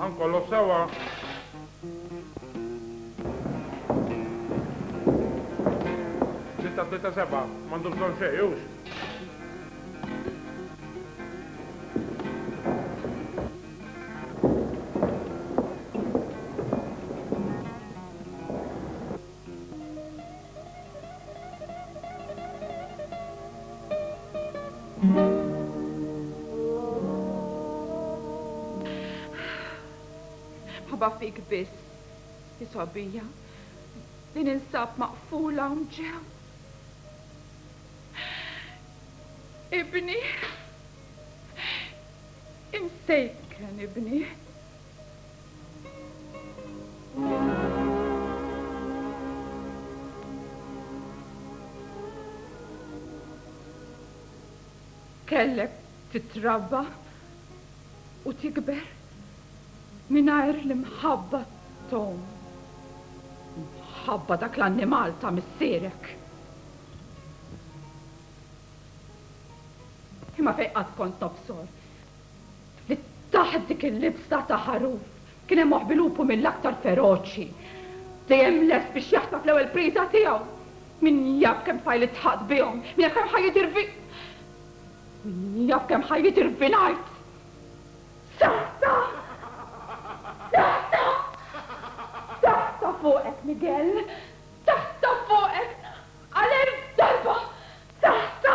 Ħankollu sewa. Sitta tlieta seba' m'għandu bżonn xejn hux. Mħabba fik biss, hi sobija, li ninsab maqfula hawn ġew. Ibni, imsejken ibni. Kellek titrabba u tikber mingħajr l-imħabba t'omm. Mħabba dak l-annimal ta' missierek. Imma fejn qatt kont nobsor li taħt dik il-libsa ta' ħaruf kien hemm moħbi lupu mill-aktar feroċi, dejjem lest biex jaħtaf l-ewwel priża tiegħu. Min jaf kemm tfajli ddħaqt bihom, min jaf kemm ħajjiet irvi. Min jaf kemm ħajjiet irvinajt. Saħta! Saħta! Saħta fuqek, Miguel! Saħta fuqek! Għal-elf darba! Saħta!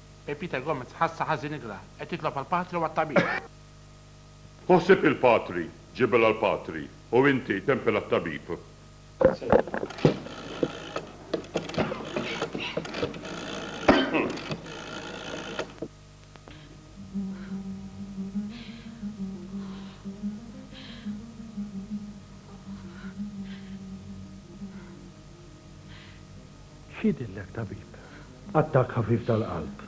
E Peter Gomez ħassha ħażin igra, qed jitlob għall-patri u għat-tabib. Hu sieb il-patri, ġibel għall-patri, u inti, tempel għat-tabib. X'jidhirlek, tabib? Attakk ħafif tal-qalb.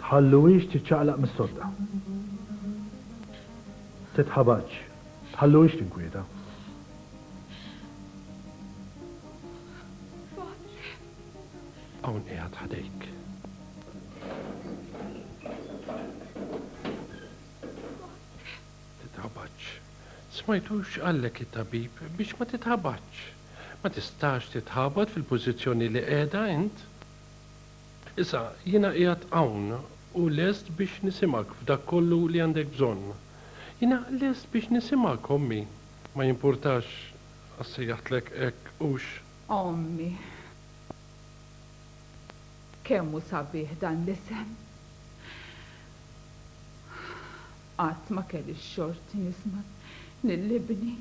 Tħalluhiex tiċċaqlaq mis-sodda. Titħabatx. Tħalluhiex tinkwieta. Hawn qiegħed ħdejk. titħabatx. Smajtux qalek it-tabib biex ma titħabatx. Ma tistax titħabat fil-pożizzjoni li qiegħda int. Issa, jiena qiegħed hawn u lest biex nisimgħek f'dak kollu li għandek bżonn. Jiena lest biex nisimgħek, Ommi. Ma jimpurtax għax sejjaħtlek hekk, hux? Ommi. Kemm hu sabiħ dan l-isem! Qatt ma kelli x-xorti nisma' lil ibni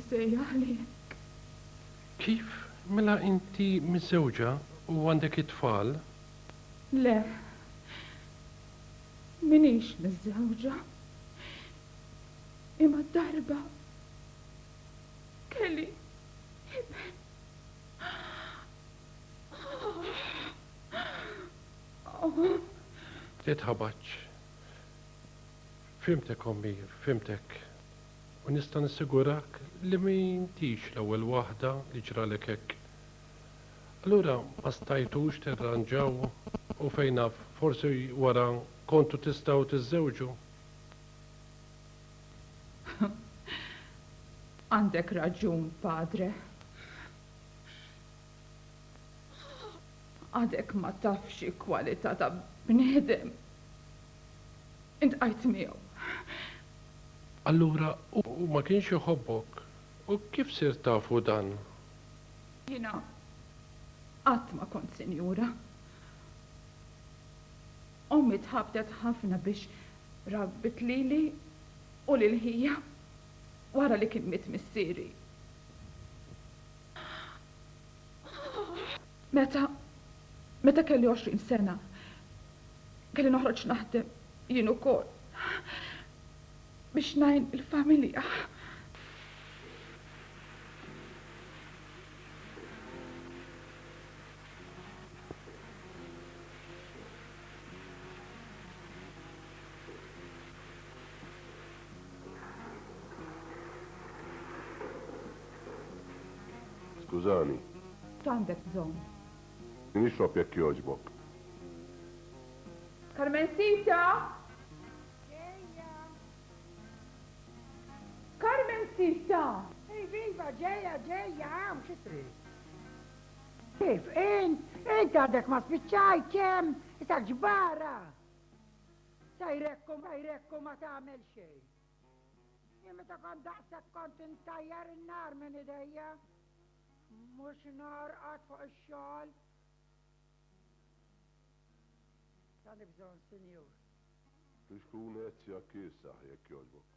jsejjaħ lilek. Kif? Mela inti miżżewġa u għandek it-tfal? Le, m'iniex miżżewġa. Imma darba kelli iben. Titħabatx. Fhimtek ommi, fhimtek. U nista' nassigurak li m'intix l-ewwel waħda li ġralek hekk. Allura ma stajtux tirranġaw u fejn naf forsi wara kontu tistgħu tiżżewġu? Għandek raġun, Padre. Għadek ma tafx xi kwalità ta' bniedem intqajt miegħu. Allura hu ma kienx iħobbok. U kif sirt tafu dan? Jiena qatt ma kont sinjura. Ommi tħabbtet ħafna biex rabbit lili u lil ħija wara li kien miet missieri. Meta meta kelli għoxrin sena, kelli noħroġ naħdem jien ukoll biex ngħin il-familja. Skużani. X'għandek bżonn? Nixrob jekk jogħġbok. Carmencita! Ġejja. Carmencita! Iva, iva, ġejja, ġejja, hawn xi trid? Kif int? Int għadek ma spiċċajt kemm? Isak ġbara! Sajrekku, sajrekku ma tagħmel xejn. Jien meta kont daqshekk kont intajjar in-nar minn idejja, mhux norqod fuq ix-xogħol. X'għandi bżonn, Sinjur? Biex tkun għezzja kiesaħ, jekk jogħġbok.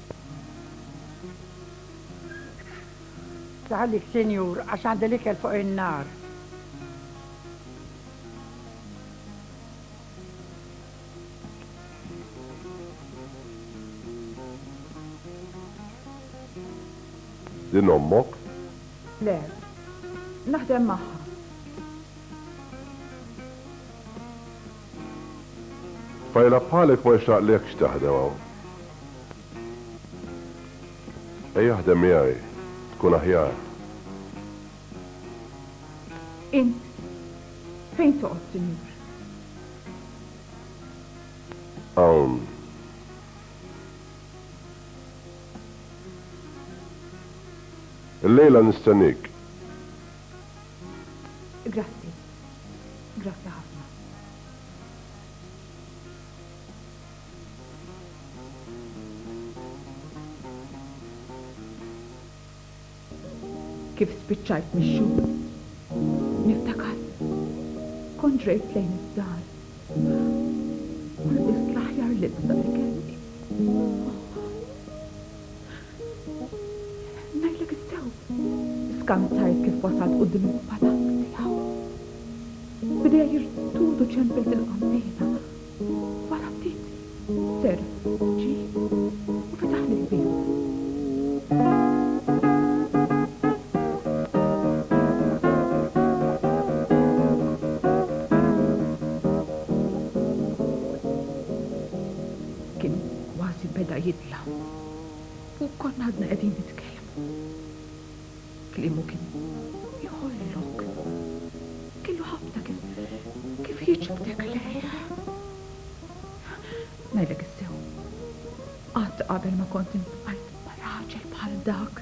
Iħallik Sinjur għax għandi l-ikel fuq in-nar. Din ommok? Le. Naħdem magħha. Tfajla bħalek ma jixraqlekx taħdem hawn. Ejja aħdem miegħi, tkun aħjar. Int fejn toqgħod, sinjur? Hawn. Illejla nistennik. Grazzi. Grazzi ħafna. Kif spiċċajt mix-xogħol, niftakar kont ġrejt lejn id-dar u lbist l-aħjar libsa li kelli. Ngħidlek is-sew, skanzajt kif wasalt quddiem il-palazz tiegħu. B'idejha jirtudu ċempilt il-qammejna. Wara ftit, serf ġie u fetaħli l-bieb. L-aħħu fuq konna għadna qegħdin nitkellmu. Kliemu kien jħollok. Kellu ħabta kif kif jiġbdek lejh. Ngħidlek is-sew, qatt qabel ma kont intbajt ma' raġel bħal dak.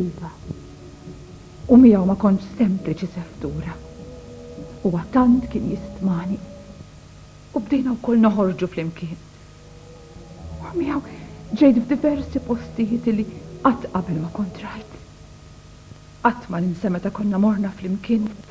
Iva. U miegħu ma kontx sempliċi seftura. Huwa tant kien jistmani. U bdejna wkoll noħorġu flimkien. U miegħu ġejt f'diversi postijiet illi qatt qabel ma kont rajt. Qatt ma ninsa meta konna morna flimkien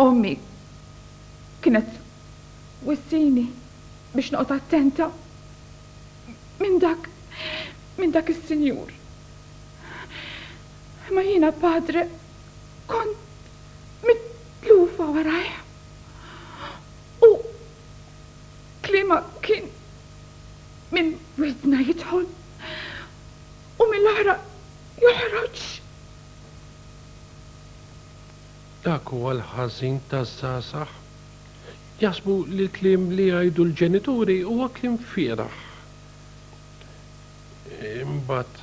Ommi kienet twissini biex noqgħod attenta minn dak minn dak is-sinjur. Imma jiena padre kont mitlufa warajh. U klima kien minn widna jidħol u mill-oħra joħroġ. Dak huwa l-ħażin taż-żgħażagħ. Jaħsbu li l-kliem li jgħidu l-ġenituri huwa kliem fieragħ. Imbagħad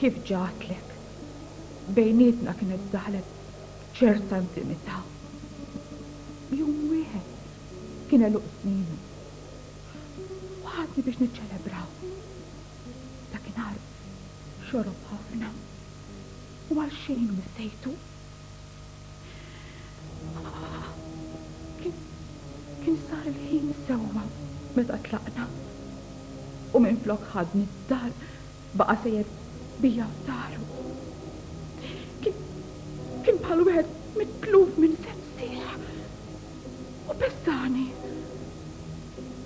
Kif ġa għedtlek, bejnietna kienet daħlet ċerta intimità. Jum wieħed kien għeluq sninu u ħadni biex niċċelebraw. Dakinhar xorob ħafna u għalxejn missejtu. Kien sar il-ħin sewwa meta tlaqna u minflok ħadni d-dar baqa' sejjer bija f'dahru. Kien bħal wieħed mitluf minn sensih u pessani.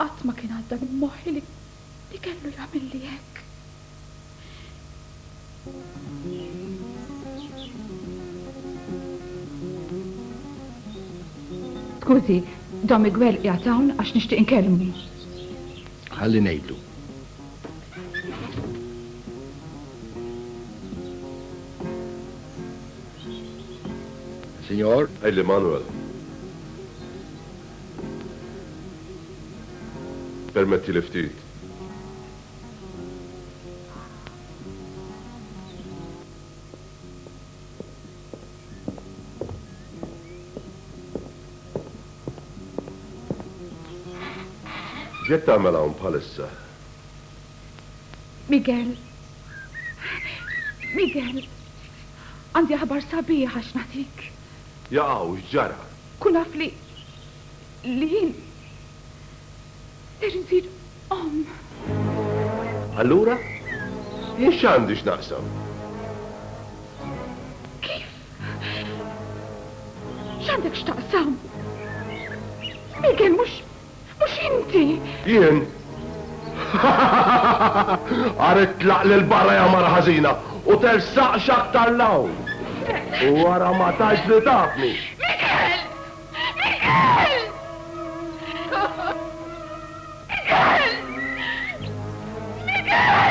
Qatt ma kien għadda minn moħħi li li kellu jagħmilli hekk. Skużi, Don Miguel qiegħed hawn għax nixtieq inkellmu. Ħalli ngħidlu. Signor? Għidli Manuel. Permettili ftit. X'qed tagħmel hawn bħalissa? Miguel. Miguel. Għandi aħbar sabiħa x'nagħtik. Jaqaw, x'ġara? Kun af li. li jien. ser insir omm. Allura? Jien x'għandi x'naqsam? Kif? X'għandek x'taqsam? Ikel mhux Mhux inti! Jien? Agħar itlaq lil barra ja mara ħażina u tersaqx aktar 'l hawn! U wara ma tgħid li tafni! Mikel! Mikel! Mikel! Mikel!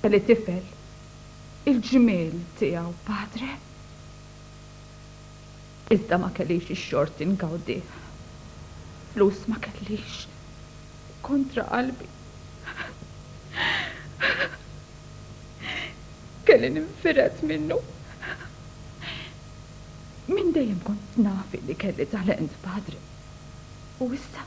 Kelli tifel, il-ġmiel tiegħu padre, iżda ma kellix ix-xorti ngawdih. Flus ma kellix, u kontra qalbi kelli ninfired minnu. Minn dejjem kont naf illi kelli talent, padre, u issa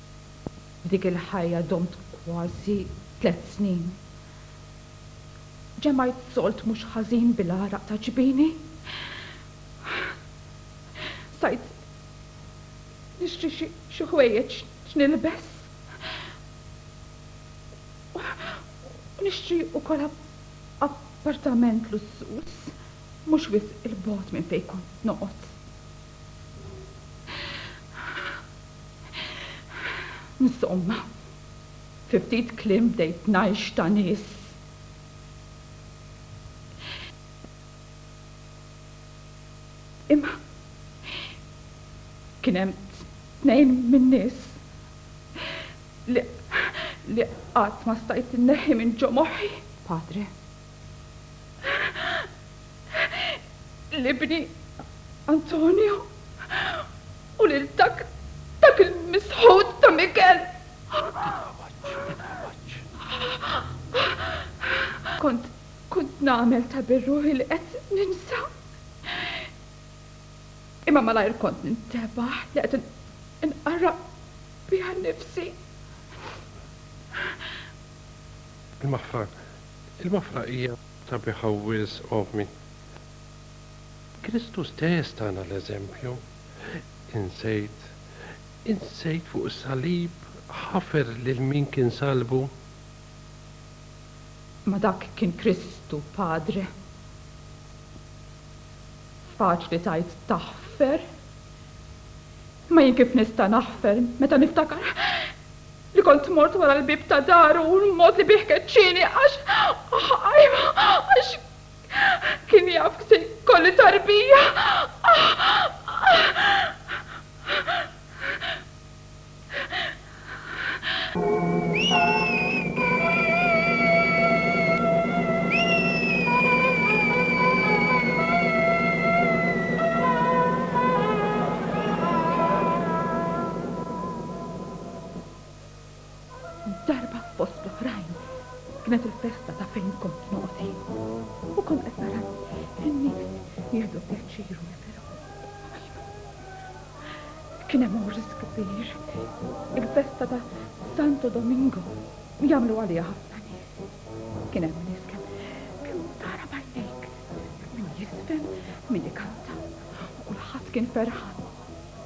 Dik il-ħajja domt kważi tliet snin. Ġemgħajt sold mhux ħażin bil-għaraq ta' ġbini. Stajt nixtri xi ħwejjeġ x'nilbes u nixtri wkoll appartament lussuż mhux wisq 'il bogħod minn fejn kont noqgħod. Insomma, fi ftit kliem bdejt ngħix ta' nies. Imma kien hemm tnejn min-nies li qatt ma stajt inneħħi minn ġo moħħi, Padre. l-ibni Antonio u lil dak dak il-misħut ta' Mikel. Titħawaġġ, titħawaġġ. Kont kont nagħmel ta' birruħi li qed ninsa. Imma malajr kont nintebaħ li qed inqarraq biha nnifsi. Imma Fran, Il-wafra hija sabiħa wisq, ommi. Kristu stess tana l-eżempju. Insejt, insejt fuq is-salib ħafer lil min kien salbu? Ma dak kien Kristu, Padre. Faċli tgħid taħfer. Imma jien kif nista' naħfer meta niftakar. Li kont mort wara l-bieb ta' daru u l-mod li bih keċċieni għax, ajwa, għax kien jaf se jkolli tarbija. Darba fost l-oħrajn kienet il-festa ta' fejn kont noqgħod jien u kont qed nara n-nies jieħdu pjaċir u jifirħu. Ajja, kien hemm għors kbir, il-festa ta' Santo Domingo li jagħmlu għaliha ħafna nies. Kien hemm nies kemm kemm tara b'għajnejk, min jiżfen, min ikanta u kulħadd kien ferħan.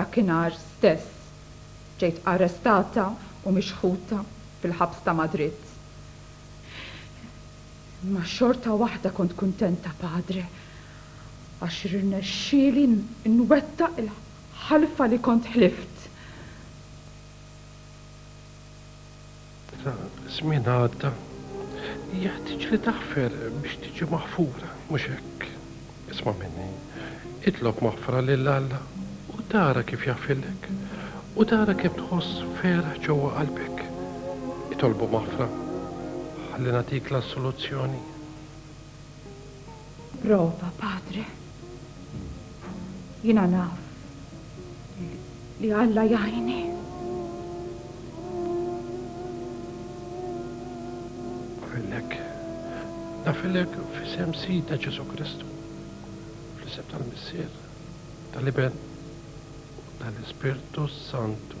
Dakinhar stess ġejt arrestata u mixħuta fil-ħabs ta' Madrid. Imma xorta waħda kont kuntenta, Padre, għax rnexxieli nwettaq il-ħalfa li kont ħlift. ta' żmien għadda, jeħtieġ li taħfer biex tiġi maħfura, mhux hekk? Isma' minni, itlob maħfra lil Alla u tara kif jaħfirlek, u tara kemm tħoss ferħ ġewwa qalbek. Itolbu maħfra ħalli nagħtik l-assoluzzjoni. Prova, Padre. Jiena naf li Alla jgħini. Nafillek, nafillek f'isem Sidna Ġesu Kristu, fl-isem tal-Missier, tal-Iben u tal-Ispirtu Santu.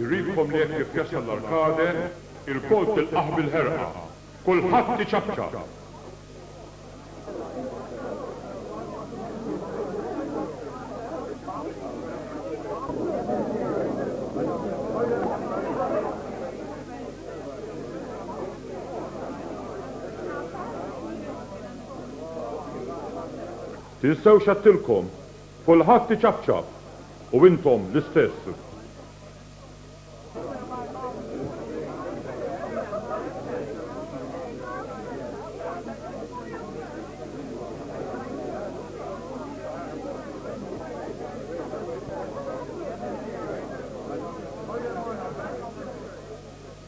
Irridkom li hekk kif jasal l-Arkade, ilkoll tilqgħuh bil-ħerqa. Kulħadd iċapċap! Tinsewx għedtilkom Kulħadd iċapċap u intom l-istess.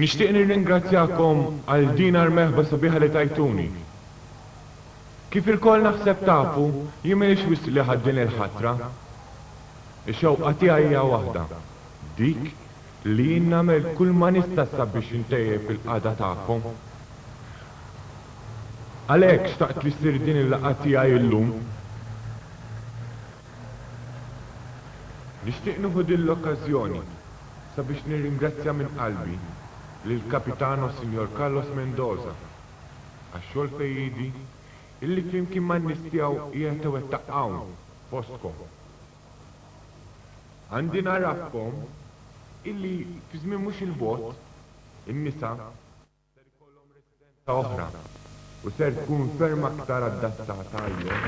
Nixtieq nirringrazzjakom għal din ar-merħba sabiħa li tajtuni. Kif ilkoll naħseb tafu, jien m'iniex wisq li ħadd din il-ħatra. Ix-xewqa tiegħi hija waħda, dik li jien nagħmel kull ma nista' sabiex intejjeb il-qagħda tagħkom. Għalhekk xtaqt li ssir din il-laqgħa tiegħi illum. Nixtieq nieħu din l-okkażjoni. sabiex nirringrazzja minn qalbi lill-Capitano Sinjor Carlos Mendoza għax-xogħol fejriedi illi flimkien man-nies tiegħu qiegħed iwettaq hawn fostkom. Għandi ngħarrafkom illi fi żmien mhux il-bogħod in-nisa, ser ikollhom residenza oħra u ser tkun ferm aktar adattata għalihom.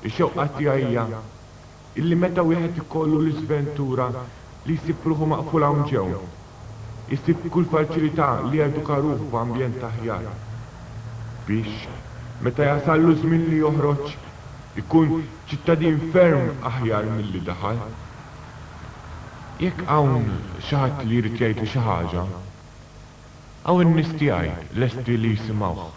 Ix-xewqa tiegħi hija illi meta wieħed ikollu l-iżventura li jsib ruħu maqful hawn ġew, Isib kull faċilità li jeduka ruħu f'ambjent aħjar biex, meta jasallu ż-żmien li joħroġ, ikun ċittadin ferm aħjar milli daħal. Jekk hawn xi ħadd li jrid jgħidlu xi ħaġa, hawn in-nies tiegħi lesti li jisimgħuh.